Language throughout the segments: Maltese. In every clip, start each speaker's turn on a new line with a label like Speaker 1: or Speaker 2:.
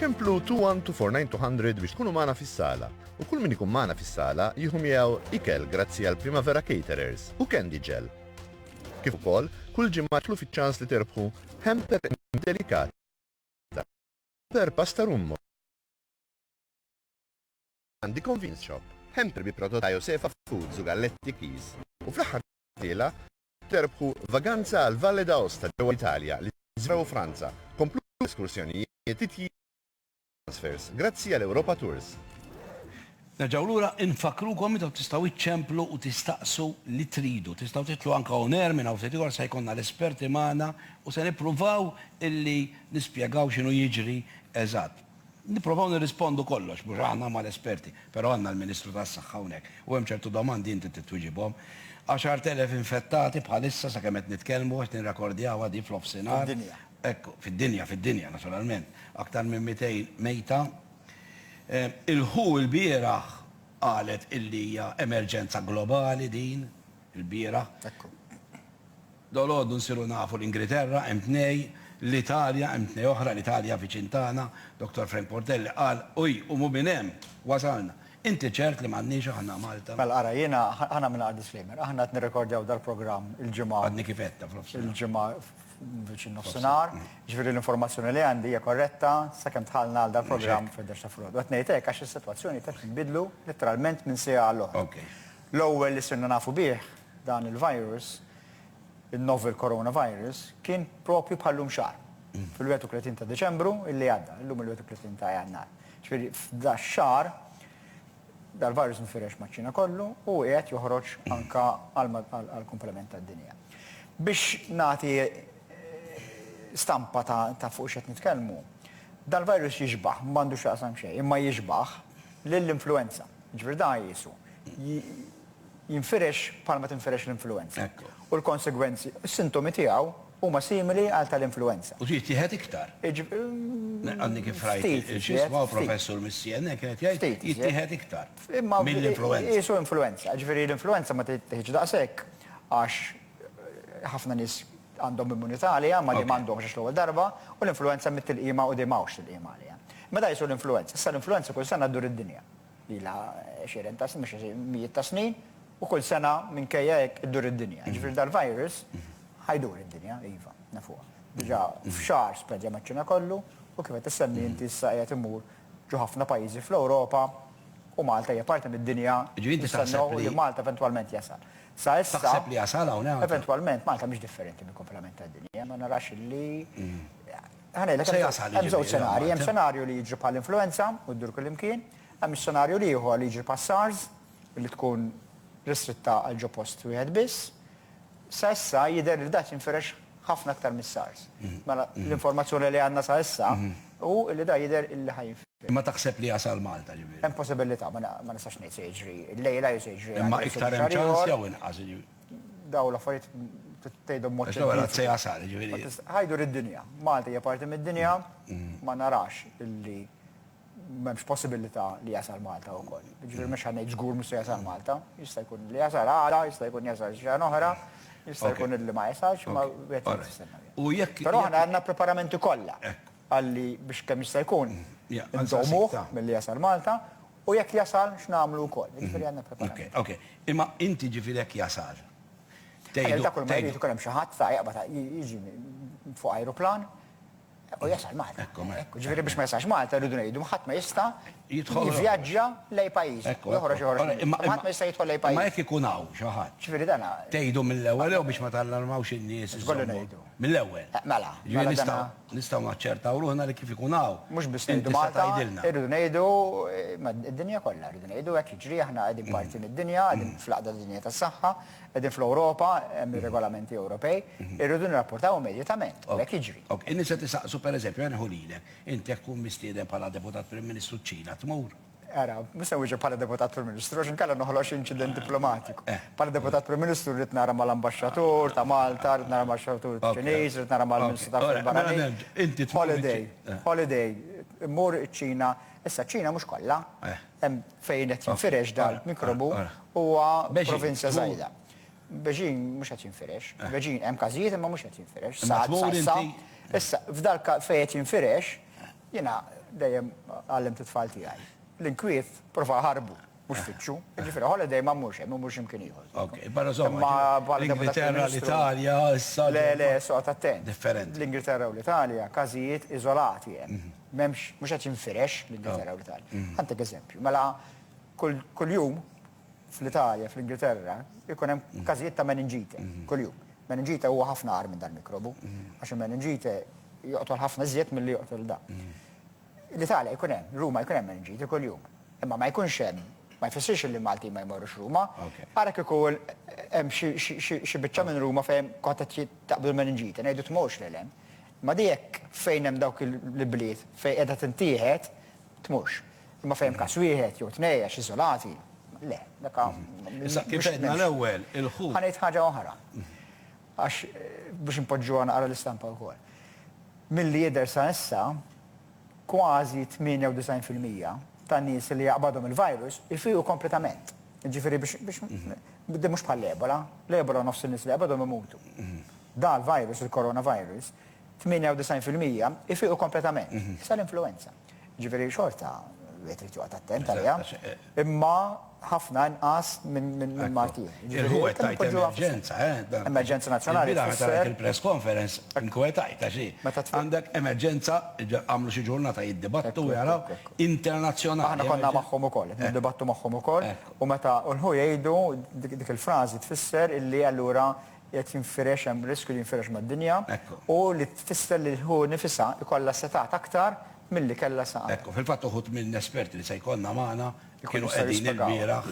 Speaker 1: ċemplu 2124900 biex tkunu magħna fis-sala. U kull min ikun magħna fis-sala jieħu miegħu ikel grazzi għal Primavera Caterers u Candy Gel. Kif ukoll, kull ġimgħa tlu fiċ-ċans li terbħu hamper delikat per pasta rummo għandi convenience shop, hamper bi prodott ta' Josefa Foods u Galletti Keys u fl-aħħar tilgħa terbħu vaganza għal Valle d'Aosta ġewwa l-Italja, l-Iżvizzera u Franza, kompluti bl-eskursjonijiet, titjiriet u transfers grazzi għal Europa Tours.
Speaker 2: Nerġgħu lura nfakkrukom intom tistgħu iċċemplu u tistaqsu li tridu. Tistgħu titlu anke on air minn hawn ftit ieħor se jkollna l-esperti magħna u se nippruvaw illi nispjegaw x'inhu jiġri eżatt. Nipprovaw nirrispondu kollox, mhux aħna ma l-esperti, però għandna l-Ministru tas-Saħħa hawnhekk u hemm ċertu domandi inti trid twiġibhom. 10,000 infettati bħalissa sakemm qed nitkellmu, qed nirrakordjawha di fl-offsinhar. Fid-dinja. Ekku, fid-dinja, fid-dinja naturalment. Aktar minn 200 mejta. Il-who ilbieraħ qalet illi hija emerġenza globali din. Il-bieraħ. Ekku. Dolodu nsiru nafu l-Ingriterra hemm tnej, l-Italja hemm tnej oħra, l-Italja viċin tagħna, Dottor Frank Portelli qal hi u mhu minn hemm wasalna. Inti ċert li m'għandniex aħna Malta? Mela ara, jiena
Speaker 3: ħa nagħmilha għal disclaimer. Aħna qed nirrekordjaw dal-programm il-ġimgħa. Għadni kif għedtha f'nofsinhar.
Speaker 2: Il-ġimgħa
Speaker 3: viċin nofsinhar. Jiġifieri l-informazzjoni li għandi hija korretta sakemm dħalna għal dal-programm fil-11 ta' filgħodu. Qed ngħid hekk għax is-sitwazzjoni qed tinbidlu litteralment minn siegħa għall-oħra. L-ewwel li sirna nafu bih dan il-virus, in-novel coronavirus, kien proprju bħal-lum xahar, fil-31 ta' Deċembru li għadda, illum il-31 ta' Jannar. Ġifieri f'dax-xahar dal-virus nfirex maċ-Ċina kollu u qiegħed joħroġ anke għall-kumplament tad-dinja. Biex nagħti stampa ta' fuq x'qed nitkellmu, dal-virus jixbah, m'għandu x'jaqsam xejn, imma jixbah lill-influwenza. Jiġifieri dan qiesu jinfirex bħalma tinfirex l-influwenza. U l-konsegwenzi, is-sintomi tiegħu huma simili għal tal-influwenza. U jittieħed iktar.
Speaker 2: Għadni kif rajt x'jismu professur mis-CNN kien qed jgħid jittieħed iktar mill-influwenza. Qiesu influwenza.
Speaker 3: Jiġifieri l-influwenza ma tittieħedx daqshekk għax ħafna nies għandhom immunità għaliha ma li m'għandhomx għax l-ewwel darba u l-influwenza mit-tilqima u dejjem hawnx tilqima għaliha. Imma dawn qiesu l-influwenza. Issa l-influwenza kull sena ddur id-dinja. Ilha għexieren ta' snin, mhux mijiet ta' snin, u kull sena minkejja hekk iddur id-dinja. Jiġifieri dal-virus ħa jdur id-dinja, iva, nafuha. Diġà f'xahar spreadja maċ-Ċina kollu u kif qed issemmi inti issa qiegħed imur ġo ħafna pajjiżi fl-Ewropa u Malta hija parti mid-dinja nistennew li Malta eventwalment jasal. Sa issa. Taħseb li jasal hawn?
Speaker 2: Eventwalment Malta mhix
Speaker 3: differenti mill-kumplament tad-dinja, ma narax li Ħa ngħidlek, Se jasal, jiġifieri, hemm żewġ l-ammont, xenarji. Hemm eh? xenarju li jiġri bħall-influwenza u ddur kullimkien. Hemm ix-xenarju l-ieħor li jiġri bħas-SARS, li tkun ristritta għal ġo post wieħed biss. Sa issa jidher li da jinfirex ħafna aktar mis-SARS. Mela, l-informazzjoni li għandna sa issa hu li da jidher li ħa jinfirex. Imma taħseb li jasal
Speaker 2: Malta, ġifieri? Hemm possibilità, ma
Speaker 3: ma nistax ngħid se jiġri llejla jew se jiġri għada jew se jiġri xahar ieħor. Imma iktar
Speaker 2: hemm ċans jew inqas, jiġifieri? Daw
Speaker 3: l-affarijiet tgħidhom mod. Għax l-ewwel se jasal, ġifieri.
Speaker 2: Ħajdu rid-dinja.
Speaker 3: Malta hija parti mid-dinja, ma narax illi m'hemmx possibilità li jasal Malta wkoll. Ġifieri mhux ħa ngħid żgur mhux se jasal Malta, jista' jkun li jasal għala, jista' jkun jasal xi ġan oħra, jista' jkun illi ma jasalx, ma jekk. Però aħna għandna preparamenti kollha għalli biex kemm jista' jkun inżommuh milli jasal Malta U jekk jasal, x'nagħmlu wkoll? Jiġifieri għandna preparazzjoni. Ok, ok. Imma
Speaker 2: inti ġifieri jekk jasal, tgħidu. Għaliex
Speaker 3: dak kull ma jrid ikun hemm xi ħadd sa jaqbad jiġi fuq ajruplan u jasal Malta. Hekk hu. Hekk hu. Ġifieri biex ma jasalx Malta rridu ngħidu ħadd ma jista' jivvjaġġa lejn pajjiżu. Hekk hu. Joħroġ joħroġ minn Malta. Imma ħadd ma jista' jidħol lejn pajjiżu. Imma jekk ikun hawn xi ħadd.
Speaker 2: Ġifieri dan. Tgħidu
Speaker 3: mill-ewwel jew
Speaker 2: biex ma tallarmawx in-nies. X'kollu ngħidu? Mill-ewwel. Mela. Ġifieri
Speaker 3: nistgħu. Nistgħu
Speaker 2: naċċertaw ruħna li kif ikun hawn, Mhux biss ngħidu inti se Malta,
Speaker 3: tgħidilna. irridu ngħidu ma' d-dinja kollha, rridu ngħidu hekk jiġri, aħna qegħdin parti mid-dinja, qegħdin fl-Għaqda tad-Dinja tas-Saħħa, qegħdin fl-Ewropa, hemm ir-regolamenti Ewropej, irridu nirrapportaw immedjatament u hekk jiġri. Ok, in-nies qed isaqsu,
Speaker 2: pereżempju, ħa nieħu lilek, inti jekk tkun mistieden bħala Deputat Prim Ministru ċ-Ċina, tmur? Ara, mhux se
Speaker 3: nwieġeb bħala Deputat Prim Ministru għax inkella noħloq xi inċident diplomatiku. Bħala Deputat Prim Ministru rrid nara mal-Ambaxxatur ta' Malta, rrid nara mal-Ambaxxatur Ċiniż, rrid nara mal-Ministru tal-Affarijiet Barranin. Holiday, holiday, immur iċ-Ċina. Issa ċ-Ċina mhux kollha, hemm fejn qed jinfirex dal-mikrobu huwa provinzja żgħira. Beijing mhux qed jinfirex. Beijing hemm każijiet imma mhux qed jinfirex. Sa, sa, sa. Issa, f'dal-każ fejn qed jinfirex, Jiena dejjem għallimt it-tfal tiegħi. L-inkwiet prova ħarbu, mhux fittxu. Jiġifieri holiday ma mmurx hemm, immur xi mkien ieħor. Ok, barra żomm. Imma
Speaker 2: bħala Deputat Prim Ministru. L-Ingilterra, l-Italja, issa. Le, le, issa oqgħod attent.
Speaker 3: Differenti. L-Ingilterra u
Speaker 2: l-Italja
Speaker 3: każijiet iżolati hemm. M'hemmx, mhux qed jinfirex l-Ingilterra u l-Italja. Ħa ntik eżempju. Mela kuljum Fl-Italja, fl-Ingilterra, ikun hemm każijiet ta' meningite kuljum. Meningite huwa ħafna agħar minn dal-mikrobu, għax il-meningite joqtol ħafna iżjed milli joqtol dan. L-Italja jkun hemm, Ruma jkun hemm meningite kuljum. Imma ma jkunx hemm, ma jfissirx li l-Maltin ma jmorrux Ruma, ara kieku hemm xi biċċa minn Ruma fejn kont qed taqbdu l-meningite, ngħidu tmorrx lil hemm. Ma di hekk fejn hemm dawk l-ibliet fejn qiegħda tintieħed, tmurx. Imma fejn hemm każ wieħed jew tnej għax iżolati, le, dak a Issa, kif
Speaker 2: għedna l-ewwel, il-ħut. Ħa ngħid ħaġa oħra.
Speaker 3: Għax biex inpoġġuha naqra l-istampa wkoll. Milli jidher sa issa, kważi 98 fil-mija tan-nies li jaqbadhom il-virus ifiequ kompletament. Jiġifieri biex, biex, mhux bħall-Ebola. L-Ebola nofs in-nies li jaqbadhom imutu. Dan l-virus, il-coronavirus, 98 fil-mija ifiqu kompletament, sa l-influwenza. Jiġifieri xorta wieħed irid joqgħod attent għaliha, imma ħafna inqas minn mard ieħor. Il-ħu qed tgħid emerġenza,
Speaker 2: eh? Emerġenza
Speaker 3: nazzjonali. Il-bieraħ meta rajt il-press
Speaker 2: conference inkwetajt għax hi, għandek emerġenza, għamlu xi ġurnata jiddibattu u jaraw, internazzjonali. Aħna konna magħhom
Speaker 3: ukoll, qed niddibattu magħhom ukoll, u meta l-ħu jgħidu dik il-frażi tfisser illi allura Qiegħed jinfirex, hemm riskju li jinfirex mad-dinja, u li tfisser li hu nifisha jkollha setgħat aktar milli kellha sa għada. Fil-fatt uħud minn
Speaker 2: esperti li se jkollna magħna kienu qegħdin ilbieraħ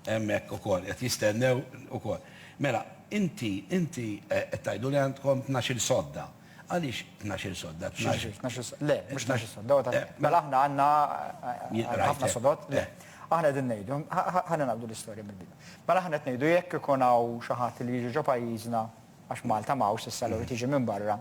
Speaker 2: hemmhekk ukoll, qed jistennew ukoll. Mela, inti, inti qed tgħidu li għandkom tnax-il sodda. Għaliex tnax-il sodda? Tnax-il. Tnax-il sodda. Le,
Speaker 3: mhux tnax-il sodda. Huwa ta' mela aħna għandna ħafna sodod. Le. Aħna qegħdin ngħidu, ħa ningħaqdu l-istorja mill-bidu. Mela aħna qed ngħidu jekk ikun hawn xi ħadd li jiġi ġo pajjiżna, għax Malta m'hawnx issa, allura jrid jiġi minn barra,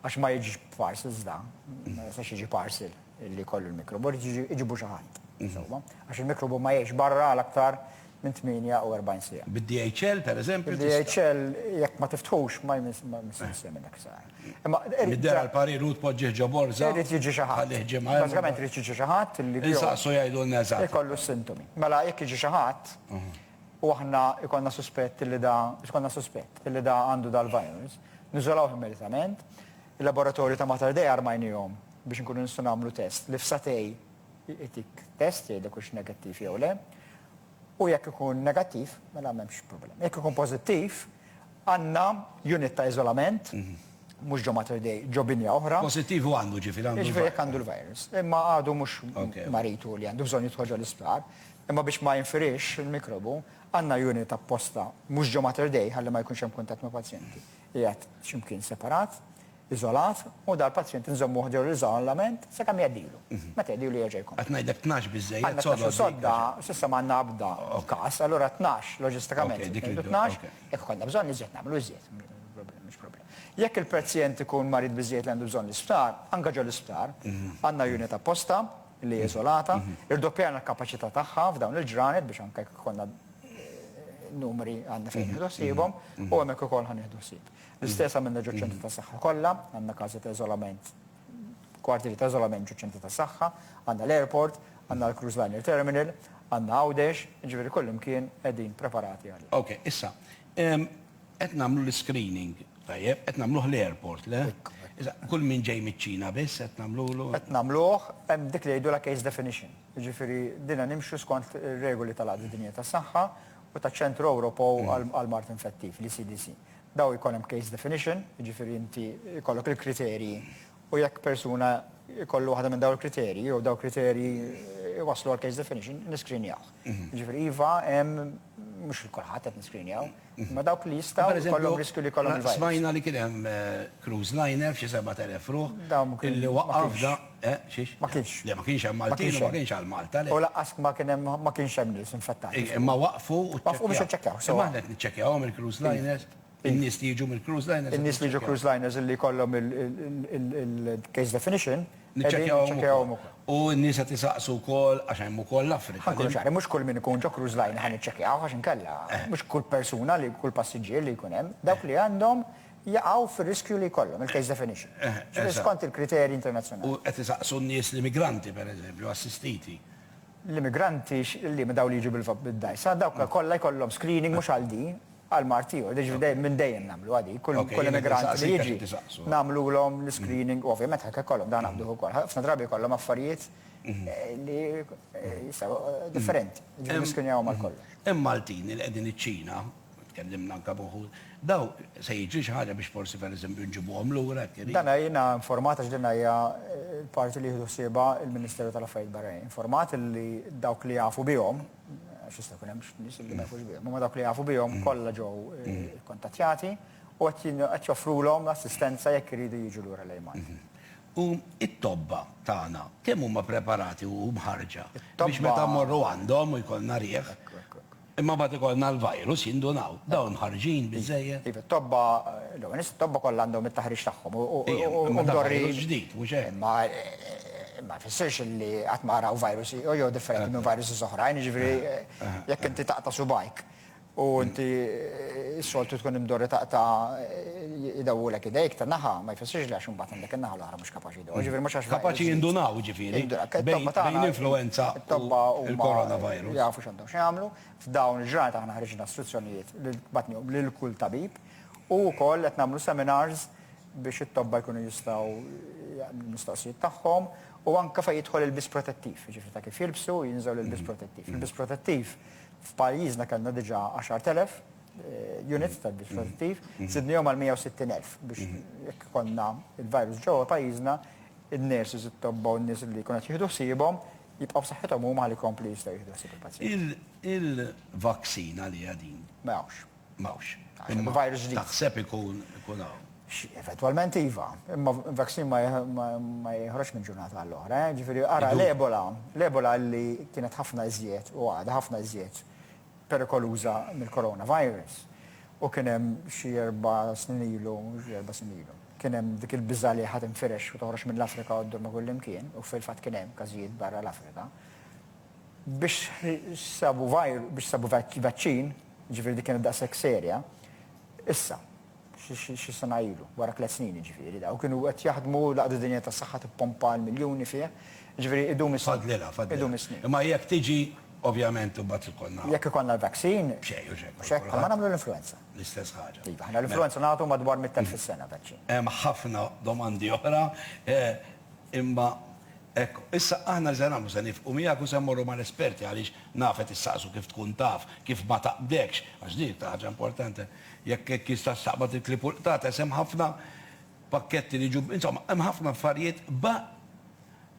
Speaker 3: għax ma jiġix b'parcels dan, ma jistax jiġi parcel. li jkollu l-mikrobu, jiġifieri iġibu xi ħadd, insomma, għax il-mikrobu ma jgħixx barra għal aktar minn 48 siegħa. Bid-DHL, pereżempju?
Speaker 2: Bid-DHL
Speaker 3: jekk ma tiftħux ma jsirx xejn minn dak is-saħħa. Imma irid. Iddera
Speaker 2: l-parir u tpoġġih ġo borża. Irid jiġi xi ħadd. Tħallih
Speaker 3: ġimgħa jew. Bażikament irid jiġi xi ħadd li. Insaqsu jgħidulna
Speaker 2: eżatt. Ikollu s-sintomi.
Speaker 3: Mela jekk jiġi xi ħadd u aħna jkollna suspett li da, jkollna suspett li da għandu dal-virus, niżolawh immedjatament. Il-laboratorji ta' Mater Dei armajniehom biex inkunu nistgħu nagħmlu test li f'sagħtej itik test jgħidlek hux negattiv jew le. U jekk ikun negattiv, mela m'hemmx problema. Jekk ikun pożittiv, għandna unit ta' iżolament, mhm. mhux ġo Mater Dei, ġo binja oħra. Pożittiv u għandu ġifieri
Speaker 2: għandu. Ġifieri jekk għandu l-virus.
Speaker 3: Imma għadu mhux maritu li għandu bżonn jitħoġġa l-isptar. Imma biex ma jinfirix il-mikrobu, għandna unit apposta mhux ġo Mater Dei ħalli ma jkunx hemm kuntatt ma' pazjenti. Qiegħed x'imkien separat iżolat u dal-pazjent inżommuh ġo l-iżolament sakemm jgħeddilu. Meta jgħeddilu jerġa' jkun. Qed ngħidlek tnax biżżejjed
Speaker 2: sodod. Għandna tnax-il sodda,
Speaker 3: s'issa ma għandna ebda każ, allura tnax loġistikament se ngħidu tnax, jekk ikollna bżonn iżjed nagħmlu iżjed, mhux problema. Jekk il-pazjent ikun marid biżżejjed li għandu bżonn l-isptar, anke ġo l-isptar għandna unit apposta li hi iżolata, irdoppjajna l-kapaċità tagħha f'dawn il-ġranet biex anke jekk ikollna numri għandna fejn nieħdu ħsiebhom u hemmhekk ukoll ħa nieħdu ħsieb. L-istess għamilna ġoċ-ċentri ta' saħħa kollha, għandna każi ta' iżolament, kwartieri ta' iżolament ġoċ-ċentri ta' saħħa, għandna l-airport, għandna l-cruise liner terminal, għandna Għawdex, jiġifieri kullimkien qegħdin preparati għal. Ok, issa,
Speaker 2: qed nagħmlu l-iscreening, tajjeb, qed nagħmluh l-airport, le? Issa, kull min ġej miċ-Ċina biss qed nagħmlulu? Qed nagħmluh,
Speaker 3: hemm dik li jgħidulha case definition, jiġifieri dinha nimxu skont ir-regoli tal-Għaqda Dinjija tas-Saħħa u taċ-Ċentru Ewropew għall-Mard Infettiv, l-ECDC. Daw jkollhom case definition, jiġifieri inti jkollok il-kriterji u jekk persuna jkollu waħda minn daw il-kriterji jew daw kriterji jwasslu għal case definition, niskrinjaw. Mhm. Jiġifieri iva hemm mhux il-kulħadd qed niskrinjaw, mhm. ma dawk li jistgħu jkollhom riskju li jkollhom. Smajna li kien hemm
Speaker 2: eh, cruise liner f'xi 7000 ruħ. Dawn li waqaf Eh, xiex? Ma kienx. Le, ma kienx
Speaker 3: hemm Maltin
Speaker 2: u ma kienx għal Malta, le. U laqqas ma kien hemm
Speaker 3: ma kienx hemm nies infettati. Imma waqfu u ċċekkjaw.
Speaker 2: Waqfu biex iċċekkjaw. Imma aħna
Speaker 3: qed niċċekkjawhom
Speaker 2: il-cruise liners, in-nies li jiġu mill-cruise liners. In-nies li jiġu cruise liners
Speaker 3: illi jkollhom il-case definition. Niċċekkjawhom
Speaker 2: ukoll. U n-nies qed isaqsu wkoll għax hemm ukoll l-Afrika. Ħa nkunu ċari, mhux kull min ikun
Speaker 3: ġo cruise liner ħa niċċekkjawh għax inkella mhux kull persuna li kull passiġġier li jkun hemm. Dawk li għandhom jaqgħu fir-riskju li jkollhom il-case definition, ġifieri skont il-kriterji internazzjonali. U qed isaqsu n-nies
Speaker 2: l-immigranti, pereżempju, assistiti. L-immigranti
Speaker 3: liema? Dawk li jiġu bid-dgħajsa? Dawk kollha jkollhom screening mhux għal din, għal mard ieħor. Jiġifieri minn dejjem nagħmluha dik. Kull immigrant li jiġi nagħmlulhom l-iscreening u ovvjament ħajkun ikollhom dan għanduh ukoll. Ħafna drabi jkollhom affarijiet li jistgħu differenti, jiġifieri niskrinjawhom għal kollox. Hemm Maltin li qegħdin
Speaker 2: iċ-Ċina Tkellimna anke b'uħud. Dawk, se jiġri xi ħaġa biex forsi pereżempju nġibuhom lura jekk iridu? Dan jiena informat
Speaker 3: għax din hija l-parti li jieħdu ħsiebha l-Ministeru tal-Affarijiet Barranin. Informat li dawk li jafu bihom, għax jista' jkun hemm nies li ma jafux bihom, imma dawk li jafu bihom kollha ġew ikkuntattjati u qed joffrulhom assistenza jekk iridu jiġu lura lejn Malta. U
Speaker 2: t-tobba tagħna kemm huma preparati u mħarrġa biex meta mmorru għandhom u jkollna riħ? Imma mbagħad ikollna l-virus jindunaw. Dawn mħarrġin biżżejjed? Iva, t-tobba, l-ewwel
Speaker 3: nett it-tobba kollha għandhom it-taħriġ tagħhom u mdorrin. Imma dan
Speaker 2: virus ġdid, mhux hekk? Imma ma
Speaker 3: jfissirx li qatt ma raw virus ieħor jew differenti minn viruses oħrajn, jiġifieri jekk inti taqta' subgħajk u inti s-soltu tkun imdorri taqta' idawwulek idejk ta' naħa, ma jfissirx li għax imbagħad għandek in-naħa l-oħra mhux kapaċi. Kapaċi jindunaw, jiġifieri,
Speaker 2: bejn l-influwenza u l-coronavirus. Jafu x'għandhom x'jagħmlu.
Speaker 3: F'dawn il-ġranet aħna ħriġna struzzjonijiet li batnihom lil kull tabib u wkoll qed nagħmlu seminars biex it-tobba jkunu jistgħu jaqdu l-mistoqsijiet tagħhom u anke fejn jidħol il-biss protettiv, jiġifieri ta' kif jilbsu u jinżgħu l-ilbies protettiv. Il-biss protettiv f'pajjiżna kellna diġà 10,000. units ta' dispożittiv, sidnihom għal 160,000 biex jekk konna il-virus ġewwa pajjiżna, in-nurses, it-tobba u n-nies li jkunu qed jieħdu ħsiebhom jibqgħu saħħithom huma ħalli jkomplu jistgħu jieħdu ħsieb il-pazjenti. Il-vaccine
Speaker 2: għaliha din? Ma hawnx. Ma
Speaker 3: hawnx.
Speaker 2: Imma virus ġdid.
Speaker 3: Taħseb ikun
Speaker 2: hawn? Eventwalment
Speaker 3: iva, imma vaccine ma jeħroġx minn ġurnata għal oħra. Ġifieri ara l-Ebola, l-Ebola li kienet ħafna iżjed u għadha ħafna iżjed perikoluża mill-coronavirus. U kien hemm xi erba' snin ilu, xi erba' snin ilu, kien hemm dik il-biża' li ħa tinfirex u toħroġ mill-Afrika u ddur ma' kullimkien, u fil-fatt kien hemm każijiet barra l-Afrika. Biex sabu virus, biex sabu vaċċin, jiġifieri dik kienet daqshekk serja, issa. xi sena ilu, wara tliet snin jiġifieri, u kienu qed jaħdmu, l-Għaqda Dinjija tas-Saħħa tippompa l-miljuni fih, jiġifieri idum is-snin. Fadlilha, fadlilha.
Speaker 2: Imma jekk tiġi, ovvjament imbagħad ikollna. Jekk ikollna l-vaccin.
Speaker 3: B'xejn, u x'hekk. U x'hekk, bħalma nagħmlu l-influwenza. L-istess ħaġa. Iva,
Speaker 2: aħna l-influwenza nagħtu
Speaker 3: madwar 100,000 fis-sena vaċċin. Hemm ħafna
Speaker 2: domandi oħra, imma hekk, issa aħna li se nagħmlu se nifqu miegħek u se mmorru mal-esperti għaliex naf qed issaqsu kif tkun taf, kif ma taqbdekx, għax din hi ħaġa importanti. Jekk hekk jistax taqbad il-clip u l-qtates, hemm ħafna pakketti li jiġu, insomma, hemm ħafna affarijiet ba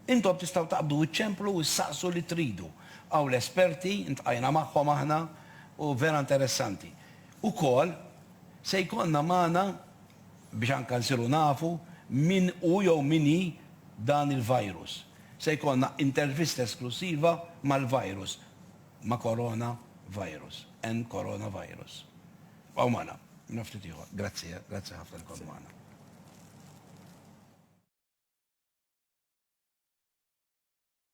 Speaker 2: Intom tistgħu taqbdu iċċemplu u ssaqsu li tridu. Hawn l-esperti, iltqajna magħhom aħna u vera interessanti. Ukoll se jkollna magħna biex anke nsiru nafu min hu jew min hi dan il-virus. Se jkollna intervista esklussiva mal-virus ma' Corona Virus, and Corona Virus. Bqgħu magħna, minn ftit ieħor. Grazzi, grazzi ħafna li kont magħna.